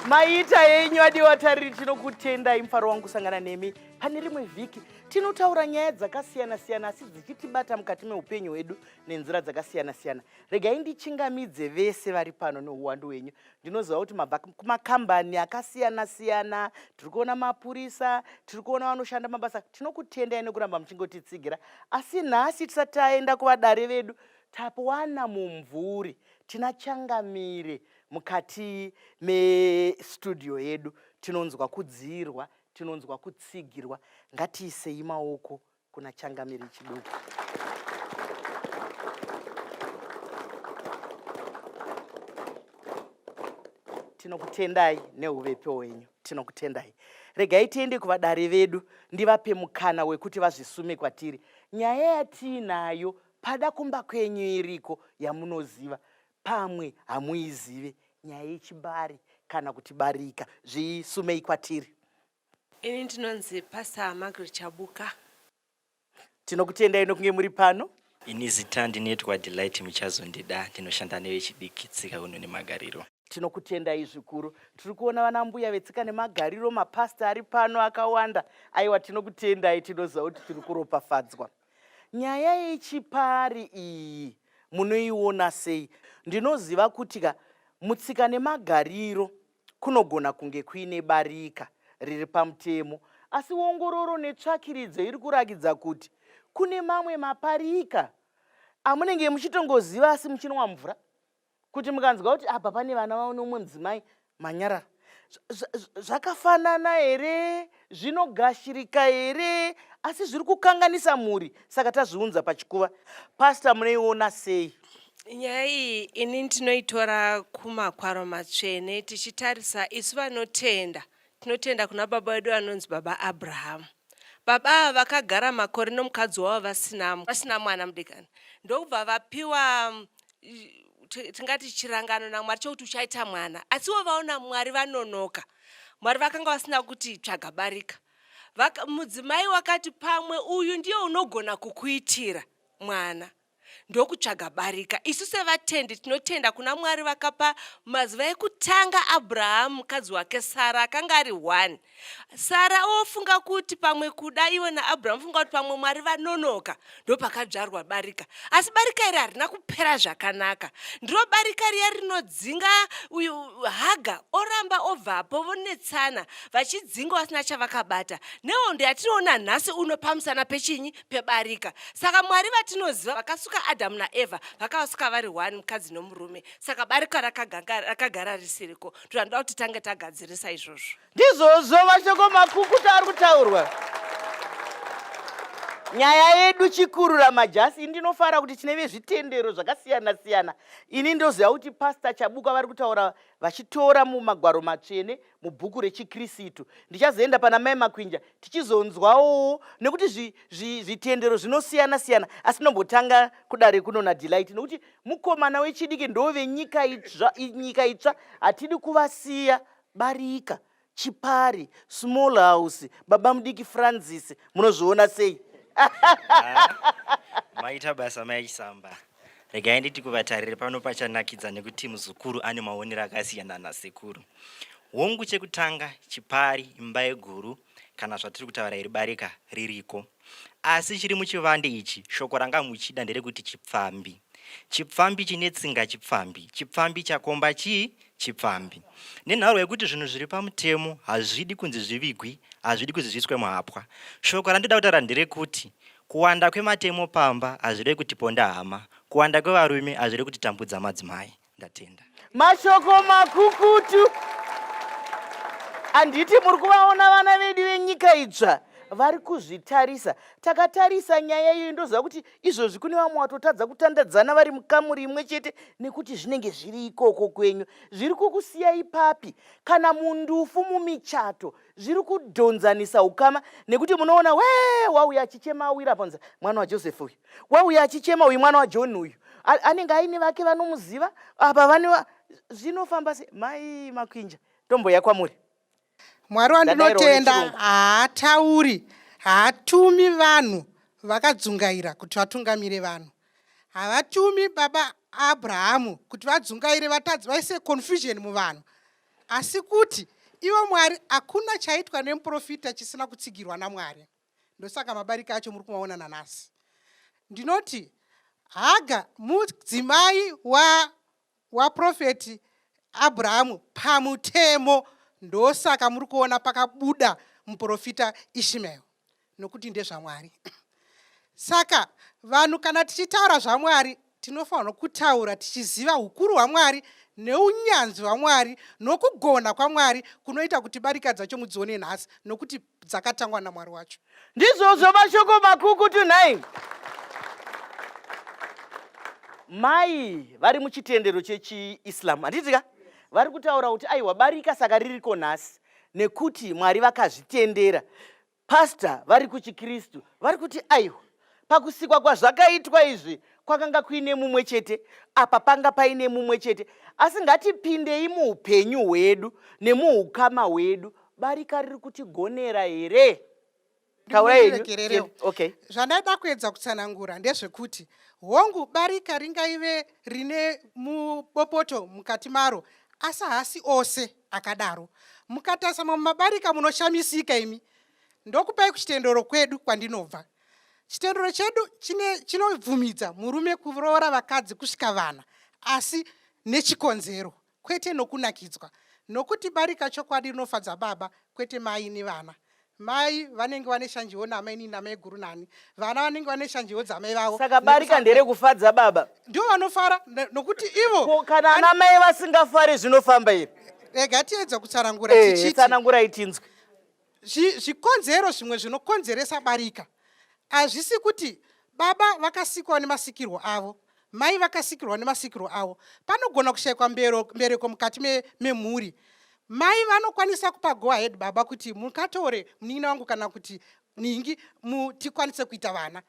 maita yenyu adiwa tariri tinokutendai mufaro wangu kusangana nemi pane rimwe vhiki tinotaura nyaya dzakasiyana-siyana asi dzichitibata mukati meupenyu hwedu nenzira dzakasiyana-siyana regai ndichingamidze vese vari pano neuwandu hwenyu ndinoziva kuti mabva kumakambani akasiyana siyana tiri kuona mapurisa tiri kuona vanoshanda mabasa tinokutendai nekuramba muchingotitsigira asi nhasi tisati taenda kuvadare vedu tapuwana mumvuri tina changamire mukati mestudio yedu tinonzwa kudziirwa tinonzwa kutsigirwa ngatiisei maoko Kuna changamire chiduku. tinokutendai neuvepi hwenyu tinokutendai regai tiende kuvadare vedu ndivape mukana wekuti vazvisume kwatiri nyaya yatiinayo pada kumba kwenyu iriko yamunoziva pamwe hamuizive nyaya yechibari kana kuti barika zvisumei kwatiri Ini ndinonzi Pastor Margaret Chabuka. Tinokutendai nokunge muri pano. Ini zita ndinoitwa Delight Muchazondida, ndinoshanda nevechidiki tsika unhu nemagariro. Tinokutendai zvikuru. Tiri kuona vana mbuya vetsika nemagariro, mapasita ari pano akawanda. Aiwa, tinokutendai, tinoziva kuti tiri kuropafadzwa. Nyaya yechipari iyi munoiona sei? Ndinoziva kuti ka mutsika nemagariro Kunogona kunge kuine barika riri pamutemo asi ongororo netsvakiridzo iri kurakidza kuti kune mamwe maparika amunenge muchitongoziva asi muchinwa mvura kuti mukanzwa kuti apa pane vana vano umwe mudzimai manyarara zvakafanana here zvinogashirika here asi zviri kukanganisa mhuri saka tazviunza pachikuva pasta munoiona sei nyaya iyi ini ndinoitora kumakwaro matsvene tichitarisa isu vanotenda tinotenda kuna baba vedu vanonzi baba abrahamu baba ava vakagara makore nomukadzi wavo vasina mwana mudikani ndokubva vapiwa tingati chirangano namwari chokuti uchaita mwana asiwo vaona mwari vanonoka mwari vakanga vasina kuti tsvaga barika mudzimai wakati pamwe uyu ndiye unogona kukuitira mwana ndokutsvaga barika isu sevatendi tinotenda kuna mwari vakapa mazuva ekutanga abrahamu mukadzi wake sara akanga ari one sara ofunga kuti pamwe kuda ivo naabrahamu funga kuti pamwe mwari vanonoka ndopakadzvarwa barika asi barika iri harina kupera zvakanaka ndiro barika riya rinodzinga uyu haga oramba obvapo vonetsana vachidzinga vasina chavakabata nehondo yatinoona nhasi uno pamusana pechinyi pebarika saka mwari vatinoziva vakasuka adhamu naevha vakavasuka vari one mukadzi nomurume saka barika rakagara risiriko tinoda kuti tange tagadzirisa izvozvo ndizvozvo mashoko makukuta ari kutaurwa nyaya yedu chikurura majasi ndinofara kuti tine vezvitendero zvakasiyana siyana ini ndoziva kuti pasta chabuka vari kutaura vachitora mumagwaro matsvene mubhuku rechikristu ndichazoenda pana mai makwinja tichizonzwawo nekuti zvitendero zvinosiyana siyana asi nombotanga kudare kuno nadelight nekuti mukomana wechidiki ndovenyika itsva nyika itsva hatidi kuvasiya barika chipari small house baba mudiki francis munozviona sei ah, maita basa maichisamba regai nditi kuvatarire pano pachanakidza nekuti muzukuru ane maonero akasiyana nasekuru hongu chekutanga chipari imba yeguru kana zvatiri kutaura iri barika ririko asi chiri muchivande ichi shoko ranga muchida nderekuti chipfambi chipfambi chine tsinga chipfambi chipfambi chakomba chii chipfambi nenharo yekuti zvinhu zviri pamutemo hazvidi kunzi zvivigwi hazvidi kunzi zviiswe muhapwa shoko randoda kutaura nderekuti kuwanda kwematemo pamba hazvirei kuti ponda hama kuwanda kwevarume hazvirei kuti tambudza madzimai ndatenda mashoko makukutu handiti muri kuvaona vana vedu venyika idzva vari kuzvitarisa takatarisa nyaya iyoyo ndoziva kuti izvozvi kune vamwe watotadza kutandadzana vari mukamuri imwe chete nekuti zvinenge zviri ikoko kwenyu zviri kukusiya ipapi kana mundufu mumichato zviri kudhonzanisa ukama nekuti munoona wee wauya achichema awira panza mwana wajoseph uyu wauya achichema uyu mwana wajohn uyu anenge aine vake vanomuziva apa vane zvinofamba se mai makwinja tomboya kwamuri mwari wandinotenda haatauri haatumi vanhu vakadzungaira kuti vatungamire vanhu havatumi baba abrahamu kuti vadzungaire vatadzi vaise confusion muvanhu asi kuti ivo mwari hakuna chaitwa nemuprofita chisina kutsigirwa namwari ndosaka mabarika acho muri kumaona nanhasi ndinoti haga mudzimai wa waprofeti abrahamu pamutemo ndosaka muri kuona pakabuda muprofita ishmael nokuti ndezvamwari saka vanhu kana tichitaura zvamwari tinofanirwa kutaura tichiziva ukuru hwamwari neunyanzvi hwamwari nokugona kwamwari kunoita kuti barika dzacho mudzione nhasi nokuti dzakatangwa namwari wacho ndizvozvo mashoko makukutu nhai mai vari muchitendero chechiislam handitika vari kutaura kuti aiwa barika saka ririko nhasi nekuti mwari vakazvitendera pasta vari kuchikristu vari kuti aiwa Pakusikwa kwazvakaitwa izvi kwakanga kuine mumwe chete, apa panga paine mumwe chete. Asi ngatipindei muupenyu hwedu nemuukama hwedu. Barika riri kutigonera here? zvandaida kuedza kutsanangura ndezvekuti hongu barika ringaive rine mubopoto mukati maro asi haasi ose akadaro mukatarisa mamwe mabarika munoshamisika imi Ndokupai kuchitendero kwedu kwandinobva. Chitendero chedu chinobvumidza murume kuroora vakadzi kusvika vana, asi nechikonzero, kwete nokunakidzwa. Nokuti barika chokwadi rinofadza baba, kwete mai nevana. Mai vanenge vane shanjewo namai nini namai guru nani. Vana vanenge vane shanjewo dzamai vavo. Saka barika ndere kufadza baba. Ndivo vanofara nokuti ivo. Kana ana mai vasingafari zvinofamba iri. Rega tiedza kutsanangura eh, tichiti. Tsanangura itinzwe. zvikonzero zvimwe zvinokonzeresa barika hazvisi kuti baba vakasikwa nemasikirwo avo mai vakasikirwa nemasikirwo avo panogona kushaikwa mbereko mukati memhuri mai vanokwanisa kupa go ahead baba kuti mukatore munin'ina wangu kana kuti ningi tikwanise kuita vana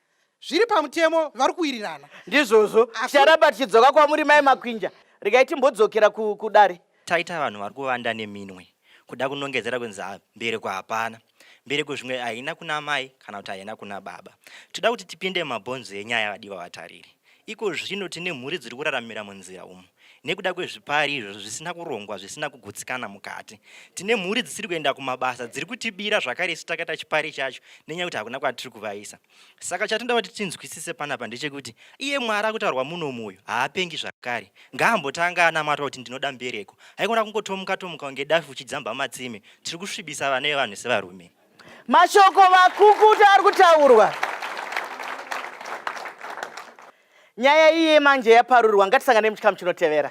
zviri pamutemo vari kuwirirana ndizvozvo ticharamba tichidzoka kwamuri mai makwinja regai timbodzokera kudare taita vanhu vari kuvanda neminwe kuda kunongedzera kunzi mbereko hapana mbereko zvimwe haina kuna mai kana kuti haina kuna baba toda kuti tipinde mumabhonzo enyaya vadiwa vatariri Iko zvino tine mhuri dziri kuraramira munzira umu nekuda kwezvipari izvo zvisina kurongwa zvisina kugutsikana mukati. Tine mhuri dzisiri kuenda kumabasa dziri kutibira zvakare isu takaita chipari chacho nenyaya yekuti hakuna kwatiri kuvaisa. Saka chatinoda kuti tinzwisise panapa ndechekuti iye Mwari akutaurwa munomu uyu haapengi zvakare. Ngaambotanga anamata kuti ndinoda mbereko. Haikona kungotomuka tomuka kunge dafi uchidzamba matsime. Tiri kusvibisa vana vevanhu sevarume. Mashoko makukutu ari kutaurwa. Nyaya iye manje yaparurwa, ngatisangane muchikamu chinotevera.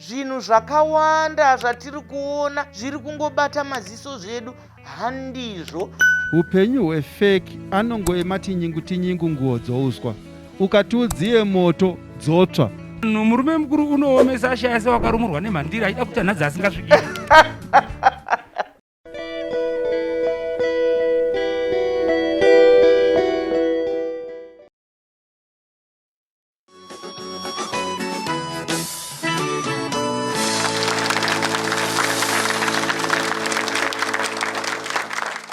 zvinhu zvakawanda zvatiri kuona zviri kungobata maziso zvedu handizvo upenyu hwefeki anongoema tinyingu tinyingu nguo dzouswa ukati udziye moto dzotsva no murume mukuru unoomesa ashaya se wakarumurwa nemhandira achida kuti anhadzi asingasvikiri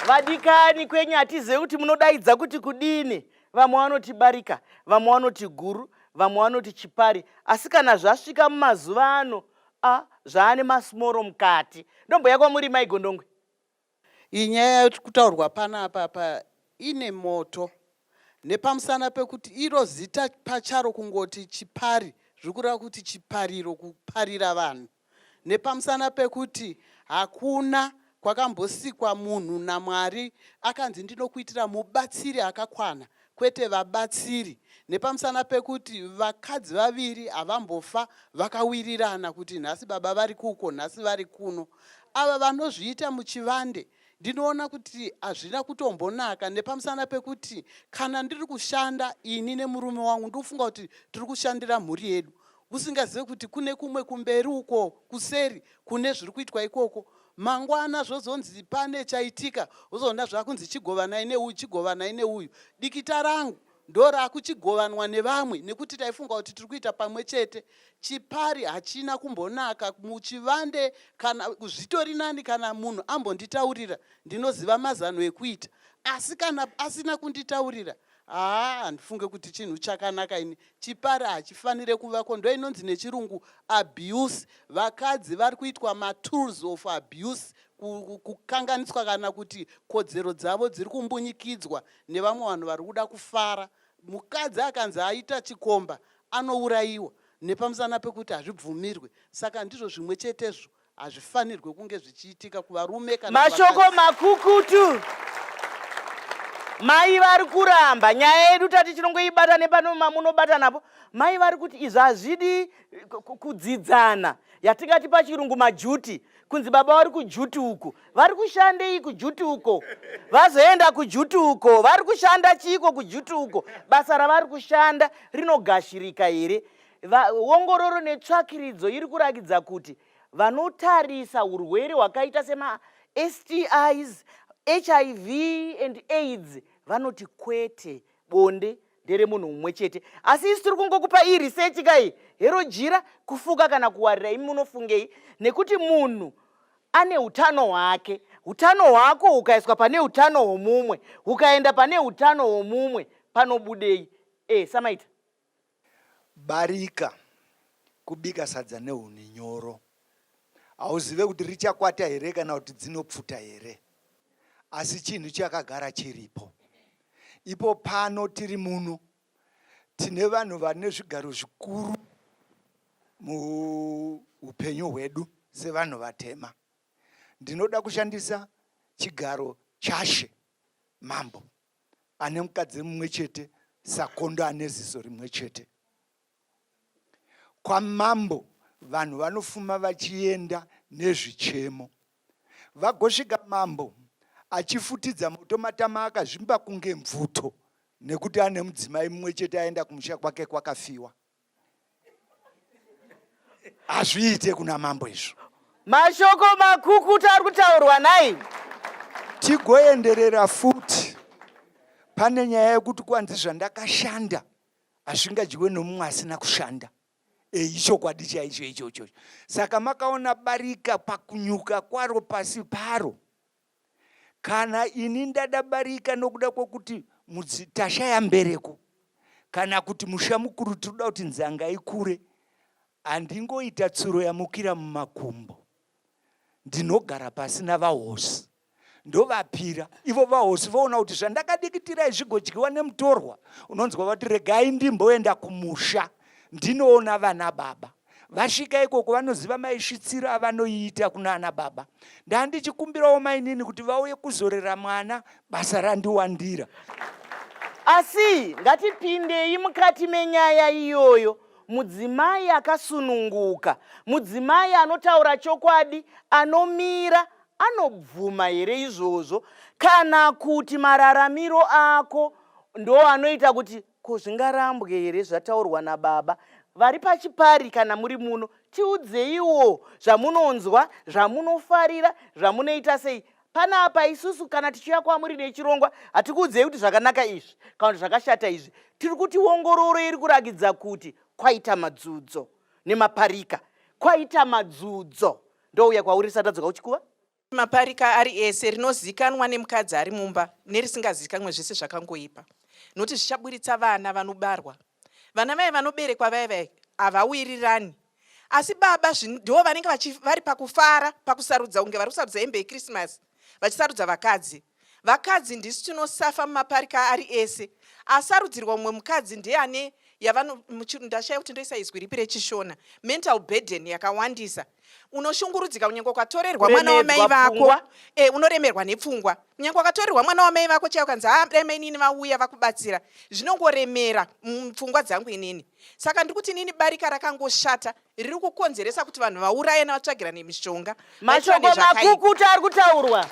vadikani kwenyu hatizive kuti munodaidza kuti kudini vamwe vanoti barika vamwe vanoti guru vamwe vanoti chipari asi kana zvasvika mumazuva ano a zvaane masmoro mukati ndomboya kwamuri maigondongwe Iyi nyaya iri kutaurwa panapa apa ine moto nepamusana pekuti iro zita pacharo kungoti chipari zviri kureva kuti chipariro kuparira vanhu nepamusana pekuti hakuna kwakambosikwa munhu namwari akanzi ndinokuitira mubatsiri akakwana kwete vabatsiri nepamusana pekuti vakadzi vaviri havambofa vakawirirana kuti nhasi baba vari kuko nhasi vari kuno ava vanozviita muchivande ndinoona kuti hazvina kutombonaka nepamusana pekuti kana ndiri kushanda ini nemurume wangu ndikufunga kuti tiri kushandira mhuri yedu usingazive kuti kune kumwe kumberi uko kuseri kune zviri kuitwa ikoko mangwana zvozonzi pane chaitika uzoona zvakunzi chigovanai neuyu chigovanai neuyu dikita rangu ndorakuchigovanwa nevamwe nekuti taifunga kuti tiri kuita pamwe chete chipari hachina kumbonaka muchivande kana zvitori nani kana munhu ambonditaurira ndinoziva mazano ekuita asi kana asina kunditaurira Haa handifunge kuti chinhu chakanaka ini. Chipari hachifanire kuvako ndoinonzi nechirungu abuse. Vakadzi vari kuitwa matools of abuse kukanganiswa kana kuti kodzero dzavo dziri kumbunyikidzwa nevamwe vanhu vari kuda kufara. Mukadzi akanzi aita chikomba anourayiwa nepamusana pekuti hazvibvumirwe. Saka ndizvo zvimwe chetezvo Hazvifanirwe kunge zvichiitika kuvarume kana Mashoko makukutu. Mai vari kuramba nyaya yedu tati tinongoibata nepano mamunobata napo. Mai vari kuti izvi hazvidi kudzidzana yatingati pachirungu majuti kunzi baba vari kujuti uko vari kushandei kujuti uko vazoenda kujuti uko vari kushanda chiiko kujuti uko basa ravari kushanda rinogashirika here Va, ongororo netsvakiridzo iri kurakidza kuti vanotarisa urwere hwakaita semastis hiv and aids vanoti kwete bonde nderemunhu mumwe chete asi isi tiri kungokupa iyi research kai hero jira kufuka kana kuwarira imi munofungei nekuti munhu ane utano hwake utano hwako hukaiswa pane utano hwomumwe hukaenda pane utano hwomumwe panobudei e eh, samaita Barika kubika sadza nehuni nyoro. Hauzive kuti richakwata here kana kuti dzinopfuta here. Asi chinhu chakagara chiripo. Ipo pano tiri muno tine vanhu vane zvigaro zvikuru muupenyu hwedu sevanhu vatema. Ndinoda kushandisa chigaro chashe mambo. ane mukadzi mumwe chete sakondo ane ziso rimwe chete kwamambo vanhu vanofuma vachienda nezvichemo vagosvika mambo achifutidza moto matama akazvimba kunge mvuto nekuti ane mudzimai mumwe chete aenda kumusha kwake kwakafiwa hazviite kuna mambo izvo mashoko makukuta ari kutaurwa nai tigoenderera futi pane nyaya yekuti kwanzi zvandakashanda hazvingadyiwe nomumwe asina kushanda eh, ichokwadi chaicho ichocho saka makaona barika pakunyuka kwaro pasi paro kana ini ndadabarika nokuda kwokuti tashaya mbereko kana kuti musha mukuru tinoda kuti nzanga ikure handingoita tsuro yamukira mumakumbo ndinogara pasi navahosi ndovapira ivo vahosi voona kuti zvandakadikitira izvigodyiwa nemutorwa unonzwa vati regai ndimboenda kumusha ndinoona vana baba vasvika ikoko vanoziva maisvitsiro avanoiita kunana baba ndandichikumbirawo mainini kuti vauye kuzorera mwana basa randiwandira asi ngatipindei mukati menyaya iyoyo mudzimai akasununguka mudzimai anotaura chokwadi anomira anobvuma here izvozvo kana kuti mararamiro ako ndo anoita kuti Ko zvingarambwe here zvataurwa nababa vari pachipari kana muri muno tiudzeiwo zvamunonzwa zvamunofarira zvamunoita sei panapa isusu kana tichiuya kwamuri nechirongwa hatikuudzei kuti zvakanaka izvi kana kuti zvakashata izvi tiri kuti ongororo iri kurakidza kuti kwaita madzudzo nemaparika kwaita madzudzo ndouya kwauri satadzoka uchikuva maparika ari ese rinozikanwa nemukadzi ari mumba nerisingazikanwe zvese zvakangoipa nokuti zvichaburitsa vana vanobarwa vana vaye vanoberekwa vaye vaye havawirirani asi baba ndo vanenge vari pakufara pakusarudza kunge vari kusarudza hembe yekrismasi vachisarudza vakadzi Vakadzi ndisu tinosafa mumaparika ari ese. Asarudzirwa mumwe mukadzi ndiye ane ndashaya kuti ndoisa izwi ripi rechishona mental burden yakawandisa unoshungurudzika kunyange ukatorerwa mwana wamai vako e, unoremerwa nepfungwa kunyange ukatorerwa mwana wamai vako chaiyo kanzi haa ah, dai mainini vauya vakubatsira zvinongoremera mupfungwa dzangu inini saka ndiri kuti inini barika rakangoshata riri kukonzeresa kuti vanhu vaurayana vatsvagirane mishonga mashoko makukuta ari kutaurwa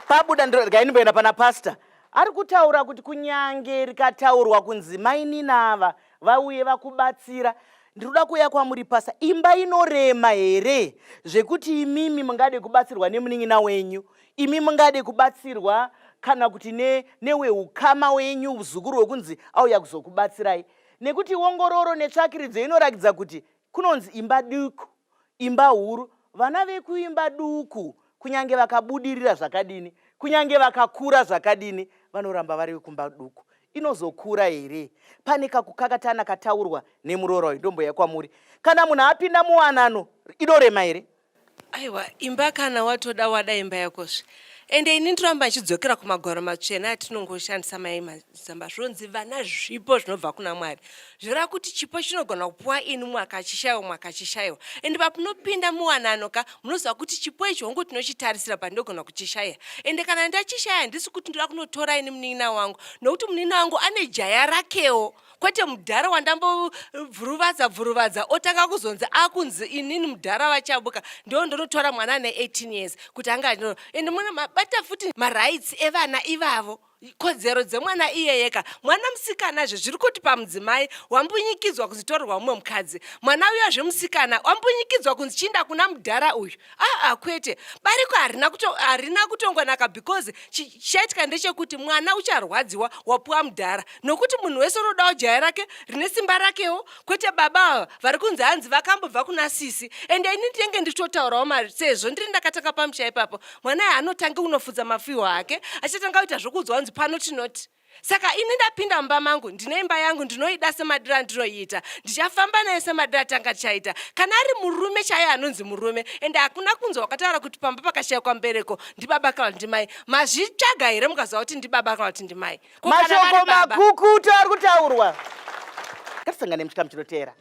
pabuda ndiregai ndimboenda pana pasta ari kutaura kuti kunyange rikataurwa kunzi mainina ava vauye vakubatsira ndinoda kuuya kwamuri pasa imba inorema here zvekuti imimi mungade kubatsirwa nemunin'ina wenyu imi mungade kubatsirwa kana kuti neweukama ne wenyu uzukuru wekunzi auya kuzokubatsirai ne, nekuti ongororo netsvakiridzo inorakidza kuti kunonzi imba duku imba huru vana vekuimba duku kunyange vakabudirira zvakadini kunyange vakakura zvakadini vanoramba vari vekumba duku inozokura here pane kakukakatana kataurwa nemuroora uyu ndomboya kwamuri kana munhu apinda muwanano inorema here aiwa imba kana watoda wada imba yakozve ende ini ndoramba ndichidzokera kumagwaro matsvene atinongoshandisa mai mazamba zvonzi vana zvipo zvinobva kuna mwari zvoreva kuti chipo chinogona kupuwa ini mwaka chishaiwa mwaka chishaiwa ende papunopinda muwanano ka munoziva kuti chipo ichi hongu tinochitarisira but ndogona kuchishaya ende kana ndachishaya handisi kuti ndoda kunotora ini munin'ina wangu nokuti munin'ina wangu ane jaya rakewo kwete mudhara wandambobvuruvadza bvuruvadza otanga kuzonzi akunzi inini mudhara vachabuka ndo ndonotora mwana ane 18 years kuti anga anoro and muna mabata futi marights evana ivavo kodzero dzemwana iyeyeka mwana musikana zve zviri kuti pamudzimai wambunyikidzwa kunzitorerwa mumwe mukadzi mwana uya zvemusikana wambunyikidzwa kunzi chiinda kuna mudhara uyu aa kwete bariko harina kuto, harina kutongonaka because chichaitika ndechekuti mwana ucharwadziwa wapuwa mudhara nokuti munhu wese unodawo jaya rake rine simba rakewo kwete baba ava vari kunzi hanzi vakambobva kuna sisi ende ini ndinenge ndichitotaurawo mari sezvo ndiri ndakatanga pamusha ipapo mwana anotange kunofudza mafiho ake achatanga kuita zvokuudzwa hanzi pano tinoti saka ini ndapinda mumba mangu ndine imba yangu ndinoida semadira ndinoiita ndichafamba naye semadira tanga tichaita kana ari murume chaiye anonzi murume ende hakuna kunzwa wakataura kuti pamba pakashayikwa mbereko ndibaba kana kuti ndimai mazvitsvaga here mukaziva kuti ndibaba kana kuti ndimai mashoko makukutu ari kutaurwa ngatisangane muchikamu chinoteera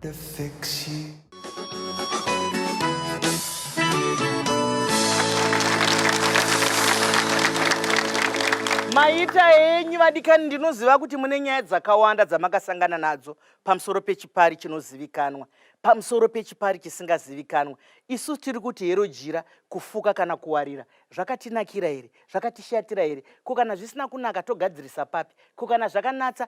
The fiction. maita henyu vadikani ndinoziva kuti mune nyaya dzakawanda dzamakasangana nadzo pamusoro pechipari chinozivikanwa pamusoro pechipari chisingazivikanwa isu tiri kuti hero jira kufuka kana kuwarira zvakatinakira here zvakatishatira here ko kana zvisina kunaka togadzirisa papi ko kana zvakanatsa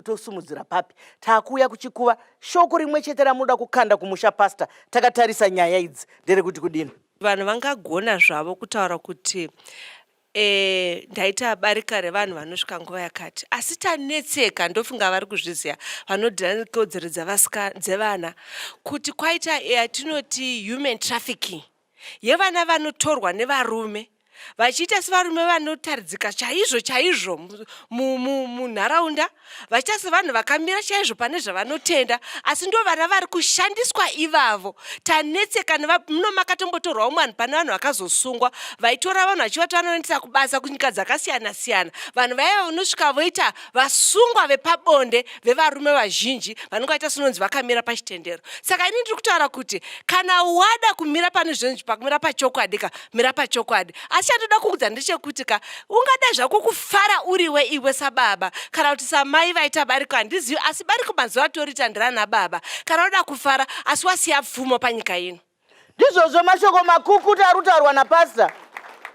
tosumudzira papi takuuya kuchikuva shoko rimwe chete ramunoda kukanda kumusha pasta takatarisa nyaya idzi nderekuti kudini vanhu vangagona zvavo kutaura kuti e, ndaita barika revanhu vanosvika nguva yakati asi tanetseka ndofunga vari kuzviziva vanodhira nekodzero dzevana kuti kwaita yatinoti human trafficking yevana vanotorwa nevarume vachiita sevarume vanotaridzika chaizvo chaizvo munharaunda vachiita sevanhu vakamira chaizvo pane zvavanotenda asi ndo vana vari kushandiswa ivavo tanetsekana muno makatombotorwawo mwanhu pane vanhu vakazosungwa vaitora vanhu vachivati vanoendesa kubasa kunyika dzakasiyana siyana vanhu vaiva vanosvika voita vasungwa vepabonde vevarume vazhinji vanenge vaita sinonzi vakamira pachitendero saka ini ndiri kutaura kuti kana wada kumira pane zvinonzi pakumira pachokwadi ka mira pachokwadi asi chandoda kuudza ndechekuti ka ungada zvako kufara uriwe iwe sababa kana kuti samai vaita bariko handizivi asi bariko mazuva atoriita ndirana baba kana unoda kufara asi wasiya pfumo panyika ino Ndizvozvo mashoko makukuta ari kutaurwa napasita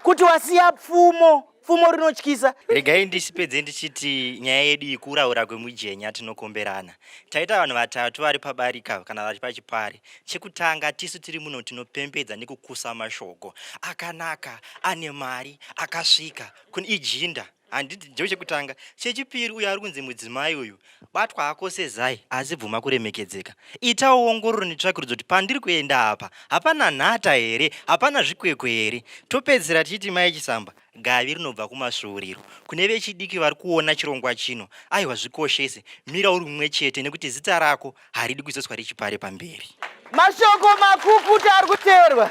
kuti wasiya pfumo pfumo rinotyisa regai ndisipedze ndichiti nyaya yedu ikuraura kwemujenya tinokomberana taita vanhu vatatu vari pabarika kana vari pachipari chekutanga tisu tiri muno tinopembedza nekukusa mashoko akanaka ane mari akasvika kun ijinda handiti ndicho chekutanga chechipiri uyo ari kunzi mudzimai uyu batwa hako sezai asi bvuma kuremekedzeka itawo ongororo netsvakirudzo kuti pandiri kuenda apa hapana nhata here hapana zvikwekwe here topedzisira tichiti mai chisamba gavi rinobva kumasvuuriro kune vechidiki vari kuona chirongwa chino aiwa zvikoshese mira uri mumwe chete nekuti zita rako haridi kuzoiswa rechipare pamberi. Mashoko makukuta ari kuteerwa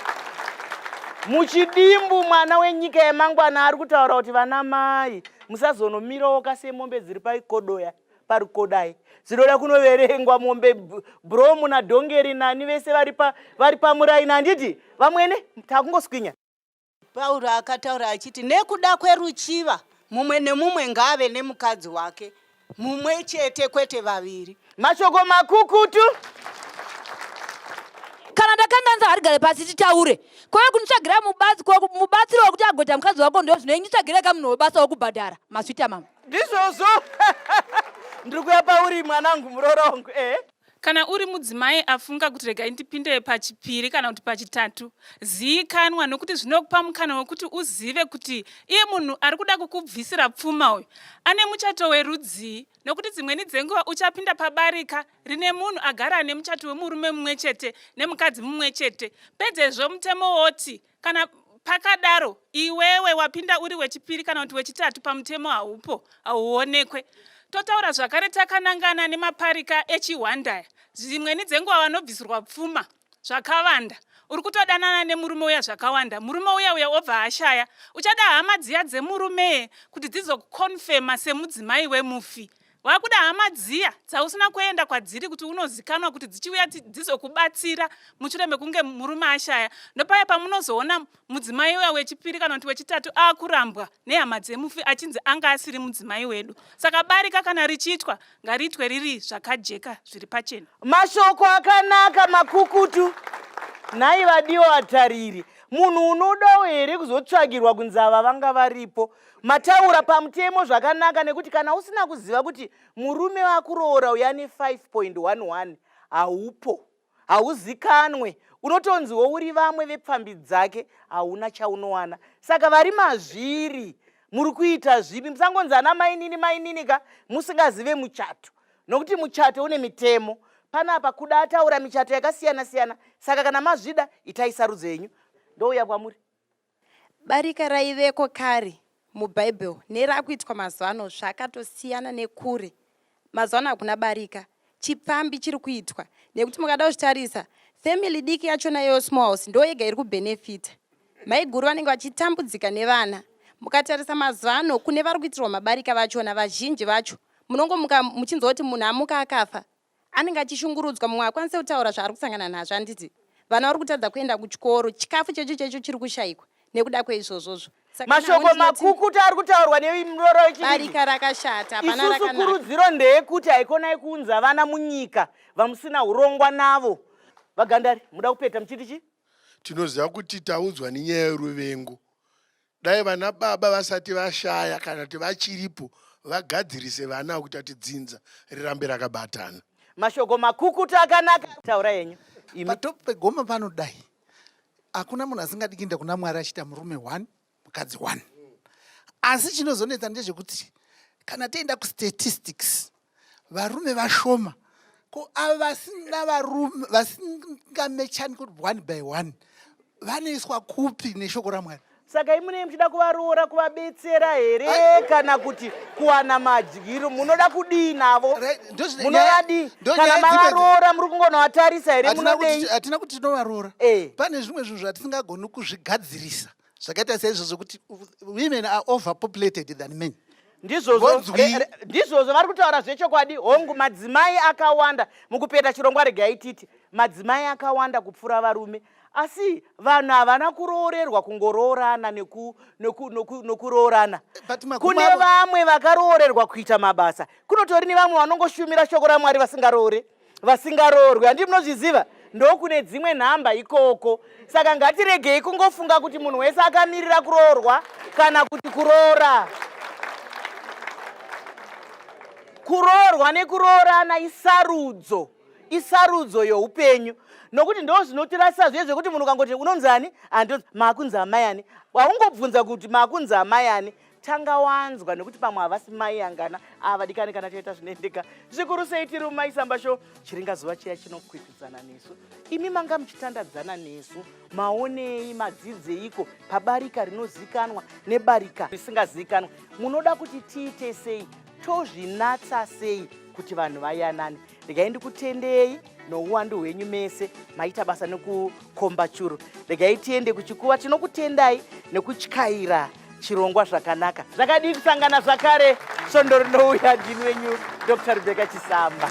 muchidimbu. Mwana wenyika yemangwana ari kutaura kuti vana mai musazonomirowoka semombe dziri paikodoya parikodai dzinoda kunoverengwa mombe bromu nadhongeri nani vese vari pamuraini handiti vamwene takungoswinya Pauro akataura achiti nekuda kweruchiva mumwe nemumwe ngaave nemukadzi wake mumwe chete kwete vaviri. Mashoko makukutu kana ndakanganisa harigare pasi titaure kweve kunditsvagira mubatsiro wekuti agoita mukadzi wako ndo zvino inditsvagire ka munhu webasa wekubhadhara maswita mama ndizvozvo ndiri kuya pauri mwanangu murorongwe eh? Kana uri mudzimai afunga kuti regai ndipinde pachipiri kana kuti pachitatu, ziikanwa nokuti zvinokupa mukana wekuti uzive kuti iye munhu ari kuda kukubvisira pfuma uyu ane muchato werudzii, nokuti dzimweni dzenguva uchapinda pabarika rine munhu agara ane muchato wemurume mumwe chete nemukadzi mumwe chete, pedzezvo mutemo woti kana pakadaro iwewe wapinda uri wechipiri kana kuti wechitatu pamutemo haupo hauonekwe totaura zvakare takanangana nemaparika echihwandaya dzimweni dzenguva vanobvisirwa pfuma zvakavanda uri kutodanana nemurume uya zvakawanda murume uya uya obva ashaya uchada hama dziya dzemurume kuti dzizokukonfema semudzimai wemufi Wakuda hama dziya dzausina kuenda kwadziri kuti unozikanwa kuti dzichiuya dzizokubatsira mushure mekunge murume ashaya. Ndopaya pamunozoona mudzimai uya wechipiri kana kuti wechitatu akurambwa nehama dzemufi achinzi anga asiri mudzimai wedu. Saka barika kana richiitwa ngariitwe riri zvakajeka zviri pachena. Mashoko akanaka makukutu. Nhai vadiwa vatariri, munhu unodawo here kuzotsvagirwa kunzi ava vanga varipo? Mataura pamutemo zvakanaka nekuti kana usina kuziva kuti murume wakuroora uya ne 5.11 haupo hauzikanwe unotonzi wouri vamwe vepfambi dzake hauna chaunowana saka vari mazviri muri kuita zvipi musangonzi ana mainini mainini ka musingazive muchato nokuti muchato une mitemo panapa kuda ataura michato yakasiyana siyana saka kana mazvida itai sarudzo yenyu ndouya kwamuri Barika raiveko kare muBible nerakuitwa mazuva ano zvakatosiyana nekure. Mazuva ano hakuna barika, chipfambi chiri kuitwa nekuti mukada kuzvitarisa family diki yachona iyoyo small house ndo yega iri kubenefita. Maiguru vanenge vachitambudzika nevana. Mukatarisa mazuva ano kune vari kuitirwa mabarika vachona vazhinji vacho munongomuka muchinzwa kuti munhu amuka akafa anenge achishungurudzwa mumwe akwanise kutaura zvaari kusangana nazvo anditi vana vari kutadza kuenda kuchikoro chikafu checho checho chiri kushayikwa nekuda kweizvozvozvo mashoko makukuta ari kutaurwa nemuroro wechibarika rakashata isusu kurudziro ndeyekuti haikonai kuunza vana munyika vamusina urongwa navo vagandari muda kupeta muchiti chii tinoziva kuti taudzwa nenyaya yeruvengo Dai vana baba vasati vashaya kana kuti vachiripo vagadzirise vana kuti ati dzinza rirambe rakabatana. Mashoko makukutu akanaka taura yenyu. Patop pegoma pano dai hakuna munhu asingadi kuenda kuna Mwari achiita murume one mukadzi one. Asi chinozonetsa ndezvekuti kana tienda kustatistics varume vashoma ko ava vasina varume vasingamechani kuti one by one vanoiswa kupi neshoko ramwari saka imunei muchida kuvaroora kuvabetsera here kana kuti kuwana madyiro munoda kudii navo munovadii kana mavaroora muri kungonovatarisa here munodehatina kuti tinovaroora eh. pane zvimwe zvinhu zvatisingagoni kuzvigadzirisa zvakaita seizvozvo kuti women are overpopulated than men ndizvozvo eh, eh, vari kutaura zvechokwadi hongu madzimai akawanda mukupeta chirongwa regai titi madzimai akawanda kupfuura varume asi vanhu havana kuroorerwa kungoroorana nokuroorana kune vamwe vakaroorerwa kuita mabasa kunotori nevamwe vanongoshumira shoko ramwari vasingaroore vasingaroorwi handii munozviziva ndokune dzimwe nhamba ikoko saka ngatiregei kungofunga kuti munhu wese akamirira kuroorwa kana kuti kuroora kuroorwa nekuroorana isarudzo isarudzo youpenyu nokuti ndo zvinotirasisa zviye zvekuti munhu ukangoti unonzani andonzi makunzi amayani waungobvunza kuti makunzi amayani tanga wanzwa nekuti pamwe havasi mai angana avadikani kana taita zvinoendeka zvikuru sei tiri umai samba sho chiringa zuva chiya chinokwikwidzana nesu imi manga muchitandadzana nesu maonei madzidzeiko pabarika rinozikanwa nebarika risingazikanwa munoda kuti tiite sei tozvinatsa sei kuti vanhu vayanane regai ndikutendei nouwandu hwenyu mese maita basa nekukomba churu regai tiende kuchikuva tinokutendai nekutyaira chirongwa zvakanaka zvakadii kusangana zvakare svondo rinouya ndini wenyu dr rebeka chisamba